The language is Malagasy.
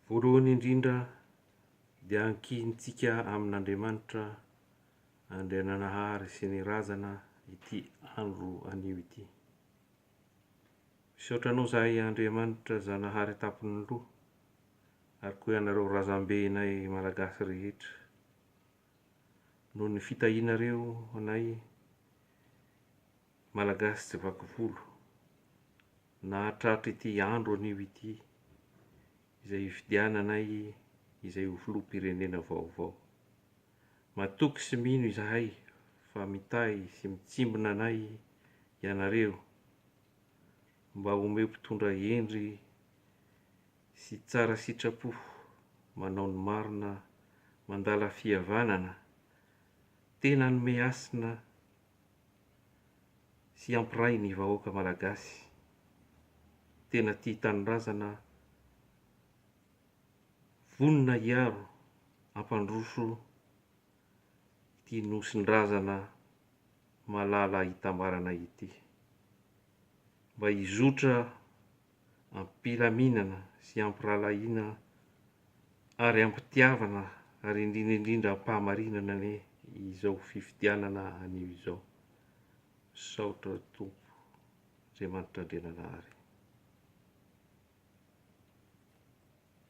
Voalohany indrindra dia ankihintsika amin'Andriamanitra Andriananahary sy ny Razana ity andro anio ity. Misaotra anao zahay Andriamanitra Zanahary Tampon'ny Loha ary koa ianareo Razambenay Malagasy rehetra noho ny fitahianareo anay Malagasy tsy vaky volo, nahatratra ity andro anio ity, izay hifidiananay izay ho filoham-pirenena vaovao. Matoky sy mino izahay fa mitahy sy mitsimbina anay ianareo mba omeo mpitondra hendry sy tsara sitrapo, manao ny marina, mandala fihavanana, tena hanome hasina sy hampiray ny vahoaka malagasy tena tia tanindrazana vonona hiaro hampandroso ity nosin-drazana malala hitambarana ity mba hizotra am-pilaminana sy am-pirahalahiana ary am-pitiavana ary indrindra indrindra am-pahamarinana anie izao fifidianana anio izao. Misaotra Tompo Andriamanitra Andriananahary.